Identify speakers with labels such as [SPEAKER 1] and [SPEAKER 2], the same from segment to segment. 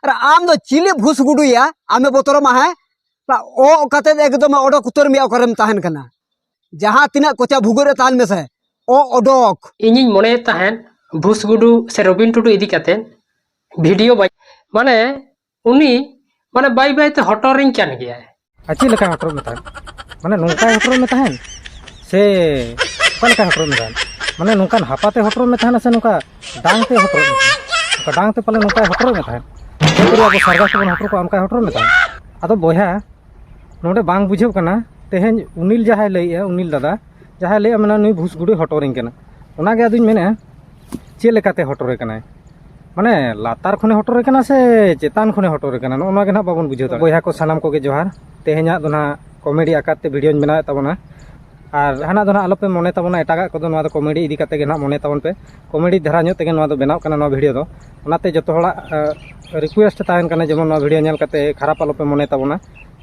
[SPEAKER 1] ᱟᱨ ᱟᱢ ᱫᱚ ᱪᱤᱞᱤ ᱵᱷᱩᱥ ᱜᱩᱰᱩᱭᱟ ᱟᱢᱮ ᱵᱚᱛᱚᱨᱟᱢᱟ ᱦᱮᱸ ᱚᱜ ᱠᱟᱛᱮ ᱮᱠᱫᱚᱢ ᱚᱰᱚᱠ ᱩᱛᱟᱹᱨ ᱢᱮᱭᱟ ᱚᱠᱟᱨᱮᱢ ᱛᱟᱦᱮᱱ ᱠᱟᱱᱟ ᱡᱟᱦᱟᱸ ᱛᱤᱱᱟᱹᱜ ᱠᱚᱪᱟ ᱵᱷᱩᱜᱟᱹᱜ ᱨᱮ ᱛᱟᱦᱮᱱ ᱢᱮᱥᱮ ᱚᱜ ᱚᱰᱚᱠ ᱤᱧᱤᱧ ᱢᱚᱱᱮᱭᱮᱫ ᱛᱟᱦᱮᱸᱫ ᱵᱷᱩᱥ ᱜᱩᱰᱩ ᱥᱮ ᱨᱚᱵᱤᱱ ᱴᱩᱰᱩ ᱤᱫᱤ ᱠᱟᱛᱮ ᱵᱷᱤᱰᱤᱭᱳ ᱵᱟᱭ ᱢᱟᱱᱮ ᱩᱱᱤ ᱢᱟᱱᱮ ᱵᱟᱭ ᱵᱟᱭᱛᱮ ᱦᱚᱴᱚᱨᱤᱧ ᱠᱟᱱ ᱜᱮᱭᱟᱭ ᱟᱨ ᱪᱮᱫ ᱞᱮᱠᱟ ᱦᱚᱴᱚᱨᱚᱜ ᱢᱮ ᱛᱟᱦᱮᱸᱫ ᱢᱟᱱᱮ ᱱᱚᱝᱠᱟᱭ ᱦᱚᱴᱚᱨᱚᱜ ᱢᱮ ᱛᱟᱦᱮᱸᱫ ᱥᱮ ᱚᱠᱟ ᱞᱮᱠᱟᱭ ᱦᱚᱴᱚᱨᱚᱜ ᱢᱮ ᱛᱟᱦᱮᱸᱫ ᱢᱟᱱᱮ ᱱᱚᱝᱠᱟᱱ ᱦᱟᱯᱟᱛᱮ ᱦᱚᱴᱚᱨᱚᱜ ᱢᱮ ᱛᱟᱦᱮᱱᱟ ᱥᱮ ᱱᱚᱝᱠᱟ ᱰᱟᱝ ᱛᱮ ᱦᱚᱴᱚᱨᱚᱜ ᱢᱮ ᱛᱟᱦᱮᱸᱫ ᱱᱚᱝᱠᱟ ᱰᱟᱝ ᱛᱮ ᱯᱟᱞᱮ ᱱᱚᱝᱠᱟᱭ ᱦᱚᱴᱚᱨᱚᱜ ᱢᱮ ᱛᱟᱦᱮᱸᱫ ᱯᱩᱨᱟᱹ ᱟᱵᱚ ᱥᱟᱨᱜᱟᱥ ᱵᱚᱱ ᱦᱚᱴᱚᱨ ᱠᱚᱣᱟ ᱚᱱᱠᱟᱭ ᱦᱚᱴᱚᱨᱚᱜ ᱢᱮ ᱛᱟᱦᱮᱸᱫ ᱟᱫᱚ ᱵᱚᱭᱦᱟ ᱱᱚᱰᱮ ᱵᱟᱝ ᱵᱩᱡᱷᱟᱹᱜ ᱠᱟᱱᱟ ᱛᱮᱦᱮᱧ ᱩᱱᱤᱞ ᱡᱟᱦᱟᱸᱭ ᱞᱟᱹᱭᱮᱜᱼᱟ ᱩᱱᱤᱞ ᱫᱟᱫᱟ ᱡᱟᱦᱟᱸᱭ ᱞᱟᱹᱭᱮᱜᱼᱟ ᱢᱮᱱᱟ ᱱᱩᱭ ᱵᱷᱩᱥ ᱜᱩᱰᱩᱭ ᱦᱚᱴᱚᱨᱤᱧ ᱠᱟᱱᱟ ᱚᱱᱟᱜᱮ ᱟᱫᱚᱧ ᱢᱮᱱᱮᱜᱼᱟ ᱪᱮᱫ ᱞᱮᱠᱟᱛᱮ ᱦᱚᱴᱚᱨᱮ ᱠᱟᱱᱟᱭ ᱢᱟᱱᱮ ᱞᱟᱛᱟᱨ ᱠᱷᱚᱱᱮ ᱦᱚᱴᱚᱨᱮ ᱠᱟᱱᱟ ᱥᱮ ᱪᱮᱛᱟᱱ ᱠᱷᱚᱱᱮ ᱦᱚᱴᱚᱨᱮ ᱠᱟᱱᱟ ᱱᱚᱜᱼᱚ ᱱᱚᱣᱟ ᱜᱮ ᱱᱟᱦᱟᱜ ᱵᱟᱵᱚᱱ ᱵᱩᱡᱷᱟᱹᱣ ᱫᱟᱲᱮᱭᱟᱜ ᱵᱚᱭᱦᱟ ᱠᱚ ᱥᱟᱱᱟᱢ ᱠᱚᱜᱮ ᱡᱚᱦᱟᱨ ᱛᱮᱦᱮᱧᱟᱜ ᱫᱚ ᱱᱟᱦᱟᱜ ᱠᱚᱢᱮᱰᱤ ᱟᱠᱟᱨ ᱛᱮ ᱵᱷᱤᱰᱤᱭᱳᱧ ᱵᱮᱱᱟᱣᱮᱫ ᱛᱟᱵᱚᱱᱟ ᱟᱨ ᱦᱟᱱᱟ ᱫᱚ ᱱᱟᱦᱟᱜ ᱟᱞᱚᱯᱮ ᱢᱚᱱᱮ ᱛᱟᱵᱚᱱᱟ ᱮᱴᱟᱜᱟᱜ ᱠᱚᱫᱚ ᱱᱚᱣᱟ ᱫᱚ ᱠᱚᱢᱮᱰᱤ ᱤᱫᱤ ᱠᱟᱛᱮ ᱜᱮ ᱱᱟᱦᱟᱜ ᱢᱚᱱᱮ ᱛᱟᱵᱚᱱ ᱯᱮ ᱠᱚᱢᱮᱰᱤ ᱫᱷᱟᱨᱟ ᱧᱚᱜ ᱛᱮᱜᱮ ᱱᱚᱣᱟ ᱫᱚ ᱵᱮᱱᱟᱣ ᱠᱟᱱᱟ ᱱᱚᱣᱟ ᱵᱷᱤᱰᱤᱭᱳ ᱫᱚ ᱚᱱᱟᱛᱮ ᱡᱚᱛᱚ ᱦᱚᱲᱟᱜ ᱨᱤᱠᱩᱭᱮᱥᱴ ᱛᱟᱦᱮᱱ ᱠᱟᱱᱟ ᱡᱮᱢᱚᱱ ᱱᱚᱣᱟ ᱵᱷᱤᱰᱤᱭᱳ ᱧᱮᱞ ᱠᱟᱛᱮ ᱠᱷᱟᱨᱟᱯ ᱟᱞᱚᱯᱮ ᱢᱚᱱᱮ ᱛᱟᱵᱚᱱᱟ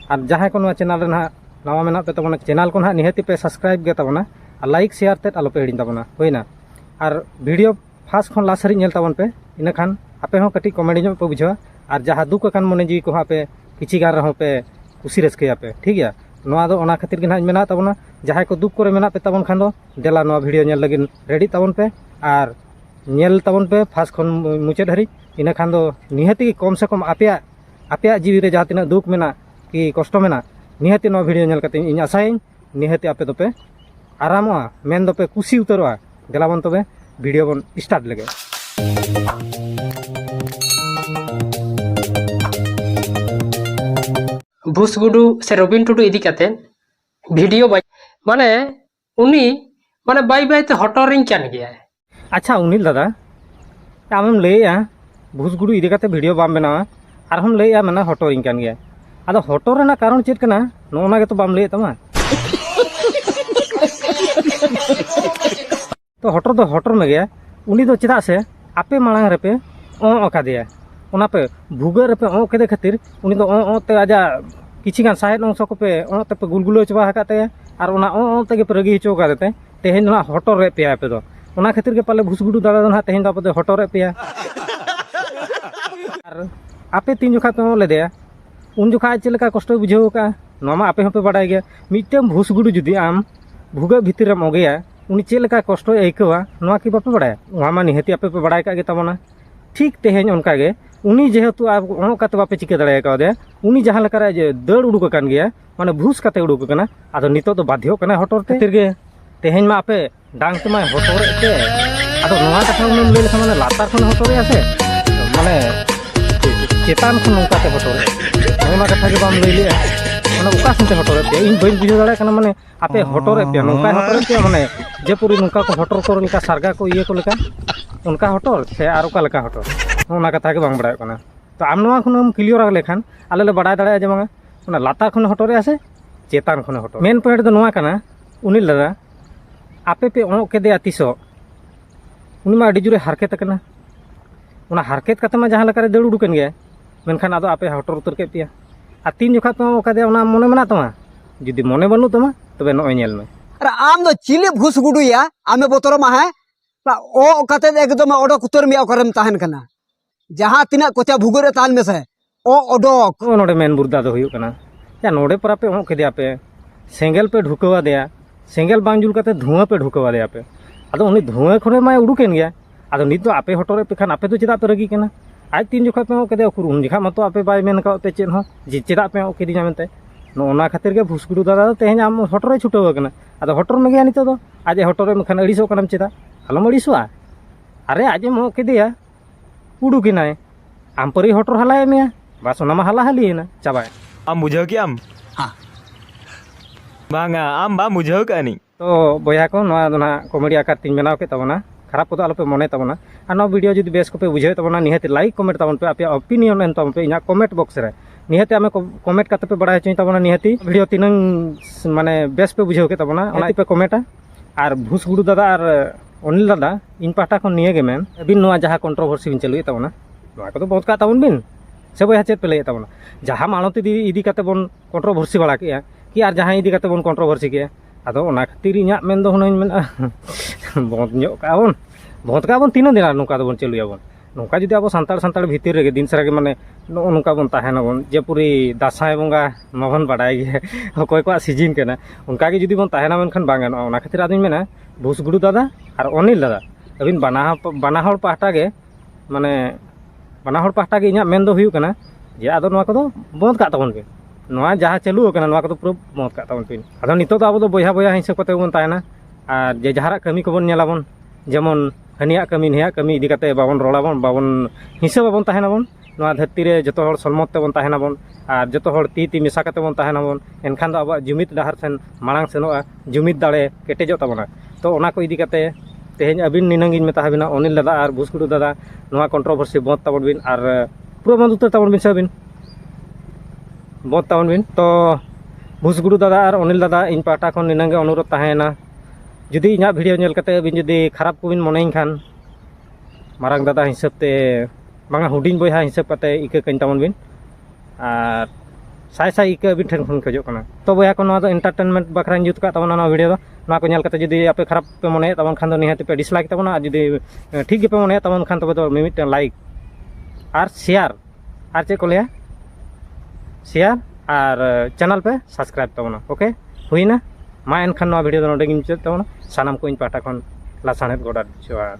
[SPEAKER 1] ᱟᱨ ᱡᱟᱦᱟᱸᱭ ᱠᱚ ᱱᱚᱣᱟ ᱪᱮᱱᱮᱞ ᱨᱮ ᱱᱟᱦᱟᱜ ᱱᱟᱣᱟ ᱢᱮᱱᱟᱜ ᱯᱮ ᱛᱟᱵᱚᱱᱟ ᱪᱮᱱᱮᱞ ᱠᱚ ᱱᱟᱦᱟᱜ ᱱᱤᱦᱟᱹᱛᱤ ᱯᱮ ᱥᱟᱵᱥᱠᱨᱟᱭᱤᱵᱽ ᱜᱮ ᱛᱟᱵᱚᱱᱟ ᱟᱨ ᱞᱟᱭᱤᱠ ᱥᱮᱭᱟᱨ ᱛᱮᱫ ᱟᱞᱚᱯᱮ ᱦᱤᱲᱤᱧ ᱛᱟᱵᱚᱱᱟ ᱦᱩᱭᱱᱟ ᱟᱨ ᱵᱷᱤᱰᱤᱭᱳ ᱯᱷᱟᱥᱴ ᱠᱷᱚᱱ ᱞᱟᱥᱴ ᱦᱟᱹᱨᱤᱡ ᱧᱮᱞ ᱛᱟᱵᱚᱱ ᱯᱮ ᱤᱱᱟᱹ ᱠᱷᱟᱱ ᱟᱯᱮ ᱦᱚᱸ ᱠᱟᱹᱴᱤᱡ ᱠᱚᱢᱮᱰᱤ ᱧᱚᱜ ᱯᱮ ᱵᱩᱡᱷᱟᱹᱣᱟ ᱟᱨ ᱡᱟᱦᱟᱸ ᱫᱩᱠ ᱟᱠᱟᱱ ᱢᱚᱱᱮ ᱡᱤᱣᱤ ᱠᱚᱦᱚᱸ ᱟᱯᱮ ᱠᱤᱪᱷᱤ ᱜᱟᱱ ᱨᱮᱦᱚᱸ ᱯᱮ ᱠᱩᱥᱤ ᱨᱟᱹᱥᱠᱟᱹᱭᱟᱯᱮ ᱴᱷᱤᱠ ᱜᱮᱭᱟ ᱱᱚᱣᱟ ᱫᱚ ᱚᱱᱟ ᱠᱷᱟᱹᱛᱤᱨ ᱜᱮ ᱱᱟᱦᱟᱜ ᱢᱮᱱᱟᱜ ᱛᱟᱵᱚᱱᱟ ᱡᱟᱦᱟᱸᱭ ᱠᱚ ᱫᱩᱠ ᱠᱚᱨᱮ ᱢᱮᱱᱟᱜ ᱯᱮ ᱛᱟᱵᱚᱱ ᱠᱷᱟᱱ ᱫᱚ ᱫᱮᱞᱟ ᱱᱚᱣᱟ ᱵᱷᱤᱰᱤᱭᱳ ᱧᱮᱞ ᱞᱟᱹᱜᱤᱫ ᱨᱮᱰᱤᱜ ᱛᱟᱵᱚᱱ ᱯᱮ ᱟᱨ ᱧᱮᱞ ᱛᱟᱵᱚᱱ ᱯᱮ ᱯᱷᱟᱥᱴ ᱠᱷᱚᱱ ᱢᱩᱪᱟᱹᱫ ᱦᱟᱹᱨᱤᱡ ᱤᱱᱟᱹ ᱠᱷᱟᱱ ᱫᱚ ᱱᱤᱦᱟᱹᱛ ᱜᱮ ᱠᱚᱢ ᱥᱮ ᱠᱚᱢ ᱟᱯᱮᱭᱟᱜ ᱟᱯᱮᱭᱟᱜ ᱡᱤᱣᱤ ᱨᱮ ᱡᱟᱦᱟᱸ ᱛᱤᱱᱟᱹᱜ ᱫᱩᱠ ᱢᱮᱱᱟᱜ ᱠᱤ ᱠᱚᱥᱴᱚ ᱢᱮᱱᱟᱜ ᱱᱤᱦᱟᱹᱛ ᱜᱮ ᱱᱚᱣᱟ ᱵᱷᱤᱰᱤᱭᱳ ᱧᱮᱞ ᱠᱟᱛᱮ ᱤᱧ ᱟᱥᱟᱭᱟᱹᱧ ᱱᱤᱦᱟᱹᱛ ᱟᱯᱮ ᱫᱚᱯᱮ ᱟᱨᱟᱢᱚᱜᱼᱟ ᱢᱮᱱ ᱫᱚᱯᱮ ᱠᱩᱥᱤ ᱩᱛᱟᱹᱨᱚᱜᱼᱟ ᱫᱮᱞᱟ ᱵᱚᱱ ᱛᱚᱵᱮ ᱵᱷᱤᱰᱤᱭᱳ ᱵᱚᱱ ᱥᱴᱟᱨᱴ ᱞᱮᱜᱮ ᱵᱷᱩᱥ ᱜᱩᱰᱩ ᱥᱮ ᱨᱚᱵᱤᱱ ᱴᱩᱰᱩ ᱤᱫᱤ ᱠᱟᱛᱮ ᱵᱷᱤᱰᱤᱭᱳ ᱢᱟᱱᱮ ᱩᱱᱤ ᱢᱟᱱᱮ ᱵᱟᱭ ᱵᱟᱭᱛᱮ ᱦᱚᱴᱚᱨᱤᱧ ᱠᱟᱱ ᱜᱮᱭᱟᱭ ᱟᱪᱪᱷᱟ ᱩᱱᱤᱞ ᱫᱟᱫᱟ ᱟᱢᱮᱢ ᱞᱟᱹᱭᱮᱜᱼᱟ ᱵᱷᱩᱥᱜᱩᱲᱩ ᱤᱫᱤ ᱠᱟᱛᱮ ᱵᱷᱤᱰᱤᱭᱳ ᱵᱟᱢ ᱵᱮᱱᱟᱣᱟ ᱟᱨᱦᱚᱸᱢ ᱞᱟᱹᱭᱮᱜᱼᱟ ᱢᱮᱱᱟ ᱦᱚᱴᱚᱨᱤᱧ ᱠᱟᱱ ᱜᱮᱭᱟ ᱟᱫᱚ ᱦᱚᱴᱚᱨ ᱨᱮᱱᱟᱜ ᱠᱟᱨᱚᱱ ᱪᱮᱫ ᱠᱟᱱᱟ ᱱᱚᱜᱼᱚ ᱱᱟ ᱜᱮᱛᱚ ᱵᱟᱢ ᱞᱟᱹᱭᱮᱫ ᱛᱟᱢᱟ ᱛᱚ ᱦᱚᱴᱚᱨ ᱫᱚ ᱦᱚᱴᱚᱨ ᱢᱮᱜᱮᱭᱟ ᱩᱱᱤ ᱫᱚ ᱪᱮᱫᱟᱜ ᱥᱮ ᱟᱯᱮ ᱢᱟᱲᱟᱝ ᱨᱮᱯᱮ ᱚᱸᱜ ᱟᱠᱟᱫᱮᱭᱟ ᱚᱱᱟ ᱯᱮ ᱵᱷᱩᱜᱟᱹᱜ ᱨᱮᱯᱮ ᱚᱸᱜ ᱠᱮᱫᱮ ᱠᱷᱟᱹᱛᱤᱨ ᱩᱱᱤ ᱫᱚ ᱚᱸᱜ ᱚᱸᱜ ᱛᱮ ᱟᱡᱟᱜ ᱠᱤᱪᱷᱤ ᱜᱟᱱ ᱥᱟᱦᱮᱫ ᱚᱝᱥᱚ ᱠᱚᱯᱮ ᱚᱸᱜ ᱛᱮᱯᱮ ᱜᱩᱞᱜᱩᱞᱟᱹᱣ ᱪᱟᱵᱟ ᱟᱠᱟᱫ ᱛᱟᱭᱟ ᱟᱨ ᱚᱱᱟ ᱚᱸᱜ ᱚᱸᱜ ᱛᱮᱜᱮ ᱯᱮ ᱨᱟᱹᱜᱤ ᱦᱚᱪᱚ ᱟᱠᱟᱫᱮ ᱛᱮ ᱛᱮᱦᱮᱧ ᱱᱚᱣᱟ ᱦᱚᱴᱚᱨ ᱨᱮ ᱯᱮᱭᱟ ᱟᱯᱮ ᱫᱚ ᱚᱱᱟ ᱠᱷᱟᱹᱛᱤᱨ ᱜᱮ ᱯᱟᱞᱮ ᱵᱷᱩᱥᱜᱩᱰᱩ ᱫᱟᱫᱟ ᱫᱚ ᱱᱟᱦᱟᱜ ᱛᱮᱦᱮᱧ ᱫᱚ ᱟᱯᱮ ᱫᱚ ᱦᱚᱴᱚᱨ ᱨᱮ ᱯᱮᱭᱟ ᱟᱨ ᱟᱯᱮ ᱛᱤᱱ ᱡᱚᱠᱷᱟ ᱯᱮ ᱚᱞ ᱞᱮᱫᱮᱭᱟ ᱩᱱ ᱡᱚᱠᱷᱟ ᱪᱮᱫ ᱞᱮᱠᱟ ᱠᱚᱥᱴᱚᱭ ᱵᱩᱡᱷᱟᱹᱣ ᱟᱠᱟᱫᱼᱟ ᱱᱚᱣᱟ ᱢᱟ ᱟᱯᱮ ᱦᱚᱸᱯᱮ ᱵᱟᱰᱟᱭ ᱜᱮᱭᱟ ᱢᱤᱫᱴᱟᱝ ᱵᱷᱩᱥᱜᱩᱰᱩ ᱡᱩᱫᱤ ᱟᱢ ᱵᱷᱩᱜᱟᱹᱜ ᱵᱷᱤᱛᱤᱨ ᱨᱮᱢ ᱚᱜᱮᱭᱟ ᱩᱱᱤ ᱪᱮᱫ ᱞᱮᱠᱟ ᱠᱚᱥᱴᱚᱭ ᱟᱹᱭᱠᱟᱹᱣᱟ ᱱᱚᱣᱟ ᱠᱤ ᱵᱟᱯᱮ ᱵᱟᱰᱟᱭᱟ ᱱᱚᱣᱟ ᱢᱟ ᱱᱤᱦᱟᱹᱛᱤ ᱟᱯᱮ ᱯᱮ ᱵᱟᱰᱟᱭ ᱠᱟᱜ ᱜᱮ ᱛᱟᱵᱚᱱᱟ ᱴᱷᱤᱠ ᱛᱮᱦᱮᱧ ᱚᱱᱠᱟ ᱜᱮ ᱩᱱᱤ ᱡᱮᱦᱮᱛᱩ ᱚᱱᱠᱟ ᱠᱟᱛᱮ ᱵᱟᱯᱮ ᱪᱤᱠᱟᱹ ᱫᱟᱲᱮ ᱠᱟᱣᱫᱮᱭᱟ ᱩᱱᱤ ᱡᱟᱦᱟᱸ ᱞᱮᱠᱟᱨᱮ ᱫᱟᱹᱲ ᱩᱰᱩᱠ ᱟᱠᱟᱱ ᱜᱮᱭᱟ ᱢᱟᱱᱮ ᱵᱷᱩᱥ ᱠᱟᱛᱮ ᱩᱰᱩᱠ ᱟᱠᱟᱱᱟ ᱟᱫᱚ ᱱᱤᱛᱚᱜ ᱫᱚ ᱵᱟᱫᱷᱭᱚᱜ ᱠᱟᱱᱟ ᱦᱚᱴᱚᱨ ᱛᱮ ᱛᱤᱨᱜᱮ ᱛᱮᱦᱮᱧ ᱢᱟ ᱟᱯᱮ ᱰᱟᱝ ᱛᱮᱢᱟᱭ ᱦᱚᱴᱚᱨᱮᱫ ᱛᱮ ᱟᱫᱚ ᱱᱚᱣᱟ ᱠᱟᱛᱷᱟ ᱩᱱᱤᱢ ᱞᱟᱹᱭ ᱞᱮᱠᱷᱟᱱ ᱢᱟᱱᱮ ᱞᱟᱛᱟᱨ ᱠᱷᱚᱱ ᱦᱚᱴᱚᱨᱮᱜᱼᱟ ᱥᱮ ᱢᱟᱱᱮ ᱪᱮᱛᱟᱱ ᱠᱷᱚᱱ ᱱᱚᱝᱠᱟ ᱛᱮ ᱦᱚᱴᱚᱨᱮᱜᱼᱟ ᱱᱚᱣᱟ ᱠᱟᱛᱷᱟ ᱜᱮ ᱵᱟᱢ ᱞᱟᱹᱭ ᱞᱮᱜᱼᱟ ᱢᱟᱱᱮ ᱚᱠᱟ ᱥᱮᱱ ᱛᱮ ᱦᱚᱴᱚᱨᱮᱫ ᱯᱮᱭᱟ ᱤᱧ ᱵᱟᱹᱧ ᱵᱩᱡᱷᱟᱹᱣ ᱫᱟᱲᱮᱭᱟᱜ ᱠᱟᱱᱟ ᱢᱟᱱᱮ ᱟᱯᱮ ᱦᱚᱴᱚᱨᱮᱫ ᱯᱮᱭᱟ ᱱᱚᱝᱠᱟᱭ ᱦᱚᱴᱚᱨᱮᱫ ᱯᱮᱭᱟ ᱢᱟᱱᱮ ᱡᱮᱯᱩᱨᱤ ᱱᱚᱝᱠᱟ ᱠᱚ ᱦᱚᱴᱚᱨ ᱠᱚ ᱞᱮᱠᱟ ᱥᱟᱨᱜᱟ ᱠᱚ ᱤᱭᱟᱹ ᱠᱚ ᱞᱮᱠᱟ ᱚᱱᱠᱟ ᱦᱚᱴᱚᱨ ᱥᱮ ᱟᱨ ᱚᱠᱟ ᱞᱮᱠᱟ ᱦᱚᱴᱚᱨ ᱚᱱᱟ ᱠᱟᱛᱷᱟ ᱜᱮ ᱵᱟᱝ ᱵᱟᱲᱟᱭᱚᱜ ᱠᱟᱱᱟ ᱛᱚ ᱟᱢ ᱱᱚᱣᱟ ᱠᱷᱚᱱᱮᱢ ᱠᱞᱤᱭᱟᱨ ᱟᱞᱮ ᱠᱷᱟᱱ ᱟᱞᱮ ᱞᱮ ᱵᱟᱰᱟᱭ ᱫᱟᱲᱮᱭᱟᱜᱼᱟ ᱡᱮ ᱵᱟᱝᱟ ᱚᱱᱟ ᱞᱟᱛᱟᱨ ᱠᱷᱚᱱᱮ ᱦᱚᱴᱚᱨᱮᱜᱼᱟ ᱥᱮ ᱪᱮᱛᱟᱱ ᱠᱷᱚᱱᱮ ᱦᱚᱴᱚᱨ ᱢᱮᱱ ᱯᱚᱭᱮᱱᱴ ᱫᱚ ᱱᱚᱣᱟ ᱠᱟᱱᱟ ᱩᱱᱤ ᱞᱟᱹᱭᱫᱟ ᱟᱯᱮ ᱯᱮ ᱚᱸᱜ ᱠᱮᱫᱮᱭᱟ ᱛᱤᱥᱚᱜ ᱩᱱᱤ ᱢᱟ ᱟᱹᱰᱤ ᱡᱳᱨᱮ ᱦᱟᱨᱠᱮᱛ ᱟᱠᱟᱱᱟ ᱚᱱᱟ ᱦᱟᱨᱠᱮᱛ ᱠᱟᱛᱮ ᱢᱟ ᱡᱟᱦᱟᱸ ᱞᱮᱠᱟᱨᱮ ᱫᱟᱹᱲ ᱩᱰᱩᱠᱮᱱ ᱜᱮᱭᱟ ᱢᱮᱱᱠᱷᱟᱱ ᱟᱫᱚ ᱟᱯᱮ ᱦᱚᱴᱚᱨ ᱩᱛᱟᱹᱨ ᱠᱮᱫ ᱯᱮᱭᱟ ᱟᱨ ᱛᱤᱱ ᱡᱚᱠᱷᱟ ᱯᱮ ᱚᱸᱜ ᱠᱟᱫᱮᱭᱟ ᱚᱱᱟ ᱢᱚᱱᱮ ᱢᱮᱱᱟᱜ ᱛᱟᱢᱟ ᱡᱩᱫᱤ ᱢᱚᱱᱮ ᱵᱟᱹᱱᱩᱜ ᱛᱟᱢᱟ ᱛᱚᱵᱮ ᱱᱚᱜᱼᱚᱭ ᱧᱮᱞ ᱢᱮ ᱟᱨ ᱟᱢ ᱫᱚ ᱪᱤᱞᱤ ᱵᱷᱩᱥ ᱜᱩᱰᱩᱭᱟ ᱟᱢᱮ ᱵᱚᱛᱚᱨᱟᱢᱟ ᱦᱮᱸ ᱚᱸᱜ ᱠᱟᱛᱮ ᱮᱠᱫᱚᱢ ᱚᱰᱚᱠ ᱩᱛᱟᱹᱨ ᱢᱮᱭᱟ ᱚᱠᱟᱨᱮᱢ ᱛᱟᱦᱮᱱ ᱠᱟᱱᱟ ᱡᱟᱦᱟᱸ ᱛᱤᱱᱟᱹᱜ ᱠᱚᱪᱟ ᱵᱷᱩᱜᱟᱹᱜ ᱨᱮ ᱛᱟᱦᱮᱱ ᱢᱮᱥᱮ ᱚ ᱚᱰᱚᱠ ᱱᱚᱰᱮ ᱢᱮᱱ ᱵᱩᱨᱫᱟ ᱫᱚ ᱦᱩᱭᱩᱜ ᱠᱟᱱᱟ ᱭᱟ ᱱᱚᱰᱮ ᱯᱚᱨᱟ ᱯᱮ ᱚᱸᱜ ᱠᱮᱫᱮᱭᱟ ᱯᱮ ᱥᱮᱸᱜᱮᱞ ᱯᱮ ᱰᱷᱩᱠᱟᱹᱣ ᱟᱫᱮᱭᱟ ᱥᱮᱸᱜᱮᱞ ᱵᱟᱝ ᱡᱩᱞ ᱠᱟᱛᱮ ᱫᱷᱩᱣᱟᱹ ᱯᱮ ᱰᱷᱩᱠᱟᱹᱣ ᱟᱫᱮᱭᱟ ᱯᱮ ᱟᱫᱚ ᱩᱱᱤ ᱫᱷᱩᱣᱟᱹ ᱠᱷᱚᱱᱮ ᱢᱟᱭ ᱩᱰᱩᱠᱮᱱ ᱜᱮᱭᱟ ᱟᱫᱚ ᱱᱤᱛ ᱫᱚ ᱟᱯᱮ ᱦᱚᱴᱚᱨ ᱮᱫ ᱯᱮ ᱠᱷᱟᱱ ᱟᱯᱮ ᱫᱚ ᱪᱮᱫᱟᱜ ᱯᱮ ᱨᱟᱹᱜᱤ ᱠᱟᱱᱟ ᱟᱡ ᱛᱤᱱ ᱡᱚᱠᱷᱚᱱ ᱯᱮ ᱚᱸᱜ ᱠᱮᱫᱮᱭᱟ ᱩᱠᱩᱨ ᱩᱱ ᱡᱚᱠᱷᱚᱱ ᱢᱟᱛᱚ ᱟᱯᱮ ᱵᱟᱭ ᱢᱮᱱ ᱠᱟᱣᱟᱫ ᱯᱮ ᱪᱮᱫ ᱦᱚᱸ ᱡᱮ ᱪᱮᱫᱟᱜ ᱯᱮ ᱚᱸᱜ ᱠᱮᱫᱤᱧᱟ ᱢᱮᱱᱛᱮ ᱱᱚᱜᱼᱚᱱᱟ ᱠᱷᱟᱹᱛᱤᱨ ᱜᱮ ᱵᱷᱩᱥᱠᱩᱰᱩ ᱫᱟᱫᱟ ᱫᱚ ᱛᱮᱦᱮᱧ ᱟᱢ ᱦᱚᱴᱚᱨᱮ ᱪᱷᱩᱴᱟᱹᱣ ᱟᱠᱟᱱᱟ ᱟᱫᱚ ᱦᱚᱴᱚᱨ ᱢᱮᱜᱮᱭᱟ ᱱᱤᱛᱚᱜ ᱫᱚ ᱟᱡ ᱮ ᱦᱚᱴᱚᱨᱮᱫ ᱢᱮᱠᱷᱟᱱ ᱟᱹᱲᱤᱥᱚᱜ ᱠᱟᱱᱟᱢ ᱪᱮᱫᱟᱜ ᱟᱞᱚᱢ ᱟᱹᱲᱤᱥᱚᱜᱼᱟ ᱟᱨᱮ ᱟᱡ ᱮᱢ ᱚᱸᱜ ᱠᱮᱫᱮᱭᱟ ᱩᱰᱩᱠ ᱮᱱᱟᱭ ᱟᱢ ᱯᱟᱹᱨᱤ ᱦᱚᱴᱚᱨ ᱦᱟᱞᱟᱭᱮᱫ ᱢᱮᱭᱟ ᱵᱟᱥ ᱚᱱᱟ ᱢᱟ ᱦᱟᱞᱟ ᱦᱟᱹᱞᱤᱭᱮᱱᱟ ᱪᱟᱵᱟᱭᱮᱱᱟ ᱟᱢ ᱵᱩᱡᱷᱟᱹᱣ ᱠᱮᱜ ᱟᱢ ᱦᱮᱸ ᱵᱟᱝᱟ ᱟᱢ ᱵᱟᱢ ᱵᱩᱡᱷᱟᱹᱣ ᱠᱟᱜ ᱟᱹᱱᱤᱡ ᱛᱚ ᱵᱚᱭᱦᱟ ᱠᱚ ᱱᱚᱣᱟ ᱫᱚ ᱱᱟᱦᱟᱜ ᱠᱚᱢᱮᱰᱤ ᱟᱠᱟᱨ ᱛᱤᱧ ᱵᱮᱱᱟᱣ ᱠᱮᱫ ᱛᱟᱵᱚᱱᱟ ᱠᱷᱟᱨᱟᱯ ᱠᱚᱫᱚ ᱟᱞᱚᱯᱮ ᱢᱚᱱᱮ ᱛᱟᱵᱚᱱᱟ ᱟᱨ ᱱᱚᱣᱟ ᱵᱷᱤᱰᱤᱭᱳ ᱡᱩᱫᱤ ᱵᱮᱥ ᱠᱚᱯᱮ ᱵᱩᱡᱷᱟᱹᱣ ᱛᱟᱵᱚᱱᱟ ᱱᱤᱦᱟᱹᱛᱤ ᱞᱟᱭᱤᱠ ᱠᱚᱢᱮᱱᱴ ᱛᱟᱵᱚᱱ ᱯᱮ ᱟᱯᱮᱭᱟᱜ ᱚᱯᱤᱱᱤᱭᱚᱱ ᱮᱢ ᱛᱟᱵᱚᱱ ᱯᱮ ᱤᱧᱟᱹᱜ ᱠᱚᱢᱮᱱᱴ ᱵᱚᱠᱥ ᱨᱮ ᱱᱤᱦᱟᱹᱛᱤ ᱟᱢᱮ ᱠᱚᱢᱮᱱᱴ ᱠᱟᱛᱮ ᱯᱮ ᱵᱟᱲᱟᱭ ᱦᱚᱪᱚᱧ ᱛᱟᱵᱚᱱᱟ ᱱᱤᱦᱟᱹᱛᱤ ᱵᱷᱤᱰᱤᱭᱳ ᱛᱤᱱᱟᱹᱝ ᱢᱟᱱᱮ ᱵᱮᱥ ᱯᱮ ᱵᱩᱡᱷᱟᱹᱣ ᱠᱮᱫ ᱛᱟᱵᱚᱱᱟ ᱚᱱᱟ ᱯᱮ ᱠᱚᱢᱮᱱᱴᱟ ᱟᱨ ᱵᱷᱩᱥ ᱜᱩᱰᱩ ᱫᱟᱫᱟ ᱟᱨ ᱚᱱᱤᱞ ᱫᱟᱫᱟ ᱤᱧ ᱯᱟᱦᱴᱟ ᱠᱷᱚᱱ ᱱᱤᱭᱟᱹ ᱜᱮ ᱢᱮᱱ ᱟᱹᱵᱤᱱ ᱱᱚᱣᱟ ᱡᱟᱦᱟᱸ ᱠᱚᱱᱴᱨᱳᱵᱷᱟᱨᱥᱤ ᱵᱤᱱ ᱪᱟᱹᱞᱩᱭᱮᱫ ᱛᱟᱵᱚᱱᱟ ᱱᱚᱣᱟ ᱠᱚᱫᱚ ᱵᱚᱫ ᱠᱟᱜ ᱛᱟᱵᱚᱱ ᱵᱤᱱ ᱥᱮ ᱵᱚᱭᱦᱟ ᱪᱮᱫ ᱯᱮ ᱞᱟᱹᱭᱮᱫ ᱛᱟᱵᱚᱱᱟ ᱡᱟᱦᱟᱸ ᱢᱟᱱᱚᱛ ᱤᱫᱤ ᱤᱫᱤ ᱠᱟᱛᱮ ᱵᱚᱱ ᱠᱚᱱᱴᱨᱳᱵᱷᱟᱨᱥᱤ ᱵᱟᱲᱟ ᱠᱮᱜᱼᱟ ᱠᱤ ᱟᱨ ᱡᱟᱦᱟᱸᱭ ᱤᱫᱤ ᱠᱟᱛᱮ ᱵᱚᱱ ᱠᱚᱱᱴᱨᱳᱵᱷᱟᱨᱥᱤ ᱠᱮᱜᱼᱟ ᱟᱫᱚ ᱚᱱᱟ ᱠᱷᱟᱹᱛᱤᱨ ᱤᱧᱟᱹᱜ ᱢᱮᱱ ᱫᱚ ᱦᱩᱱᱟᱹᱝ ᱢᱮᱱᱟᱜᱼᱟ ᱵᱚᱱᱫ ᱧᱚᱜ ᱠᱟᱜᱼᱟ ᱵᱚᱱ ᱵᱚᱱᱫ ᱠᱟᱜᱼᱟ ᱵᱚᱱ ᱛᱤᱱᱟᱹᱜ ᱫᱤᱱ ᱟᱨ ᱱᱚᱝᱠᱟ ᱫᱚᱵᱚᱱ ᱪᱟᱹᱞᱩᱭᱟᱵᱚᱱ ᱱᱚᱝᱠᱟ ᱡᱩᱫᱤ ᱟᱵᱚ ᱥᱟᱱᱛᱟᱲ ᱥᱟᱱᱛᱟᱲ ᱵᱷᱤᱛᱤᱨ ᱨᱮᱜᱮ ᱫᱤᱱ ᱥᱟᱨᱟᱜᱮ ᱢᱟᱱᱮ ᱱᱚᱜᱼᱚ ᱱᱚᱝᱠᱟ ᱵᱚᱱ ᱛᱟᱦᱮᱱᱟ ᱵᱚᱱ ᱡᱮ ᱯᱩᱨᱤ ᱫᱟᱸᱥᱟᱭ ᱵᱚᱸᱜᱟ ᱢᱟᱵᱚᱱ ᱵᱟᱰᱟᱭ ᱜᱮ ᱚᱠᱚᱭ ᱠᱚᱣᱟᱜ ᱥᱤᱡᱤᱱ ᱠᱟᱱᱟ ᱚᱱᱠᱟ ᱜᱮ ᱡᱩᱫᱤ ᱵᱚᱱ ᱛᱟᱦᱮᱱᱟ ᱢᱮᱱᱠᱷᱟᱱ ᱵᱟᱝ ᱜᱟᱱᱚᱜᱼᱟ ᱚᱱᱟ ᱠᱷᱟᱹᱛᱤᱨ ᱟᱫᱚᱧ ᱢᱮᱱᱟ ᱵᱩᱥ ᱜᱩᱰᱩ ᱫᱟᱫᱟ ᱟᱨ ᱚᱱᱤᱞ ᱫᱟᱫᱟ ᱟᱹᱵᱤᱱ ᱵᱟᱱᱟ ᱵᱟᱱᱟ ᱦᱚᱲ ᱯᱟᱦᱴᱟ ᱜᱮ ᱢᱟᱱᱮ ᱵᱟᱱᱟ ᱦᱚᱲ ᱯᱟᱦᱴᱟ ᱜᱮ ᱤᱧᱟᱹᱜ ᱢᱮᱱ ᱫᱚ ᱦᱩᱭᱩᱜ ᱠᱟᱱᱟ ᱡᱮ ᱟᱫᱚ ᱱᱚᱣᱟ ᱠᱚᱫᱚ ᱵᱚᱸᱫᱽ ᱠᱟᱜ ᱛᱟᱵᱚᱱ ᱯᱮ ᱱᱚᱣᱟ ᱡᱟᱦᱟᱸ ᱪᱟᱹᱞᱩ ᱟᱠᱟᱱᱟ ᱱᱚᱣᱟ ᱠᱚᱫᱚ ᱯᱩᱨᱟᱹ ᱵᱚᱸᱫᱽ ᱠᱟᱜ ᱛᱟᱵᱚᱱ ᱯᱮ ᱟᱫᱚ ᱱᱤᱛᱚᱜ ᱫᱚ ᱟᱵᱚ ᱫᱚ ᱵᱚᱭᱦᱟ ᱵᱚᱭᱦᱟ ᱦᱤᱥᱟᱹᱵᱽ ᱠᱟᱛᱮᱫ ᱵᱚᱱ ᱛᱟᱦᱮᱱᱟ ᱟᱨ ᱡᱮ ᱡᱟᱦᱟᱨᱟᱜ ᱠᱟᱹᱢᱤ ᱠᱚᱵᱚᱱ ᱧᱮᱞᱟᱵᱚᱱ ᱡᱮᱢᱚᱱ ᱦᱟᱹᱱᱤᱭᱟᱜ ᱠᱟᱹᱢᱤ ᱱᱤᱭᱟᱹᱜ ᱠᱟᱹᱢᱤ ᱤᱫᱤ ᱠᱟᱛᱮ ᱵᱟᱵᱚᱱ ᱨᱚᱲ ᱟᱵᱚᱱ ᱵᱟᱵᱚᱱ ᱦᱤᱥᱟᱹ ᱵᱟᱵᱚᱱ ᱛᱟᱦᱮᱱᱟ ᱵᱚᱱ ᱱᱚᱣᱟ ᱫᱷᱟᱹᱨᱛᱤ ᱨᱮ ᱡᱚᱛᱚ ᱦᱚᱲ ᱥᱚᱢᱢᱚᱛ ᱛᱮᱵᱚᱱ ᱛᱟᱦᱮᱱᱟ ᱵᱚᱱ ᱟᱨ ᱡᱚᱛᱚ ᱦᱚᱲ ᱛᱤ ᱛᱤ ᱢᱮᱥᱟ ᱠᱟᱛᱮ ᱵᱚᱱ ᱛᱟᱦᱮᱱᱟ ᱵᱚᱱ ᱮᱱᱠᱷᱟᱱ ᱫᱚ ᱟᱵᱚᱣᱟᱜ ᱡᱩᱢᱤᱫ ᱰᱟᱦᱟᱨ ᱥᱮᱱ ᱢᱟᱲᱟᱝ ᱥᱮᱱᱚᱜᱼᱟ ᱡᱩᱢᱤᱫ ᱫᱟᱲᱮ ᱠᱮᱴᱮᱡᱚᱜ ᱛᱟᱵᱚᱱᱟ ᱛᱚ ᱚᱱᱟ ᱠᱚ ᱤᱫᱤ ᱠᱟᱛᱮ ᱛᱮᱦᱮᱧ ᱟᱹᱵᱤᱱ ᱱᱤᱱᱟᱹᱝ ᱜᱤᱧ ᱢᱮᱛᱟ ᱟᱹᱵᱤᱱᱟ ᱚᱱᱤᱞ ᱫᱟᱫᱟ ᱟᱨ ᱵᱷᱩᱥᱠᱩᱰᱩ ᱫᱟᱫᱟ ᱱᱚᱣᱟ ᱠᱚᱱᱴᱨᱚᱵᱷᱟᱨᱥᱤ ᱵᱚᱸᱫᱽ ᱛᱟᱵᱚᱱ ᱵᱤᱱ ᱟᱨ ᱯᱩᱨᱟᱹ ᱵᱚᱸᱫᱽ ᱩᱛᱟᱹᱨ ᱛᱟᱵᱚᱱ ᱵᱤᱱ ᱥᱮ ᱟᱹᱵᱤᱱ ᱵᱚᱸᱫᱽ ᱛᱟᱵᱚᱱ ᱵᱤᱱ ᱛᱚ ᱵᱷᱩᱥᱠᱩᱰᱩ ᱫᱟᱫᱟ ᱟᱨ ᱚᱱᱤᱞ ᱫᱟᱫᱟ ᱤᱧ ᱯᱟᱦᱴᱟ ᱠᱷᱚᱱ ᱱᱤᱱᱟᱹᱝ ᱜᱮ ᱚᱱᱩᱨᱳᱫᱷ ᱛᱟᱦᱮᱸᱭᱮᱱᱟ ᱡᱩᱫᱤ ᱤᱧᱟᱹᱜ ᱵᱷᱤᱰᱤᱭᱳ ᱧᱮᱞ ᱠᱟᱛᱮ ᱟᱹᱵᱤᱱ ᱡᱩᱫᱤ ᱠᱷᱟᱨᱟᱯ ᱠᱚᱵᱤᱱ ᱢᱚᱱᱮᱭᱤᱧ ᱠᱷᱟᱱ ᱢᱟᱨᱟᱝ ᱫᱟᱫᱟ ᱦᱤᱥᱟᱹᱵ ᱛᱮ ᱵᱟᱝᱟ ᱦᱩᱰᱤᱧ ᱵᱚᱭᱦᱟ ᱦᱤᱥᱟᱹᱵ ᱠᱟᱛᱮ ᱤᱠᱟᱹ ᱠᱟᱹᱧ ᱛᱟᱵᱚᱱ ᱵᱤᱱ ᱟᱨ ᱥᱟᱭ ᱥᱟᱭ ᱤᱠᱟᱹ ᱟᱹᱵᱤᱱ ᱴᱷᱮᱱ ᱠᱷᱚᱱ ᱠᱷᱚᱡᱚᱜ ᱠᱟᱱᱟ ᱛᱚ ᱵᱚᱭᱦᱟ ᱠᱚ ᱱᱚᱣᱟ ᱫᱚ ᱮᱱᱴᱟᱨᱴᱮᱱᱢᱮᱱᱴ ᱵᱟᱠᱷᱨᱟᱧ ᱡᱩᱛ ᱠᱟᱜ ᱛᱟᱵᱚᱱᱟ ᱱᱚᱣᱟ ᱵᱷᱤᱰᱤᱭᱳ ᱫᱚ ᱱᱚᱣᱟ ᱠᱚ ᱧᱮᱞ ᱠᱟᱛᱮ ᱡᱩᱫᱤ ᱟᱯᱮ ᱠᱷᱟᱨᱟᱯ ᱯᱮ ᱢᱚᱱᱮᱭᱮᱫ ᱛᱟᱵᱚᱱ ᱠᱷᱟᱱ ᱫᱚ ᱱᱤᱦᱟᱹᱛ ᱯᱮ ᱰᱤᱥᱞᱟᱭᱤᱠ ᱛᱟᱵᱚᱱᱟ ᱟᱨ ᱡᱩᱫᱤ ᱴᱷᱤᱠ ᱜᱮᱯᱮ ᱢᱚᱱᱮᱭᱮᱫ ᱛᱟᱵᱚᱱ ᱠᱷᱟᱱ ᱛᱚᱵᱮ ᱫᱚ ᱢᱤᱢᱤᱫᱴᱟᱝ ᱞᱟᱭᱤᱠ ᱟᱨ ᱥᱮᱭᱟᱨ ᱟᱨ ᱪᱮᱫ ᱠᱚ ᱞᱟᱹᱭᱟ ᱥᱮᱭᱟᱨ ᱟᱨ ᱪᱮᱱᱮᱞ ᱯᱮ ᱥᱟᱵᱥᱠᱨᱟᱭᱤᱵ ᱛᱟᱵᱚᱱᱟ ᱳᱠᱮ ᱦᱩᱭᱱᱟ ᱢᱟ ᱮᱱᱠᱷᱟᱱ ᱱᱚᱣᱟ ᱵᱷᱤᱰᱤᱭᱳ ᱫᱚ ᱱᱚᱰᱮ ᱜᱤᱧ ᱢᱩᱪᱟᱹᱫ ᱛᱟᱵᱚᱱᱟ ᱥᱟᱱᱟᱢ ᱠᱚ ᱤᱧ ᱯᱟᱦᱴᱟ ᱠᱷᱚᱱ ᱞᱟᱥᱟᱬᱦᱮᱫ ᱜᱚᱰᱟ ᱡᱚᱦᱟᱨ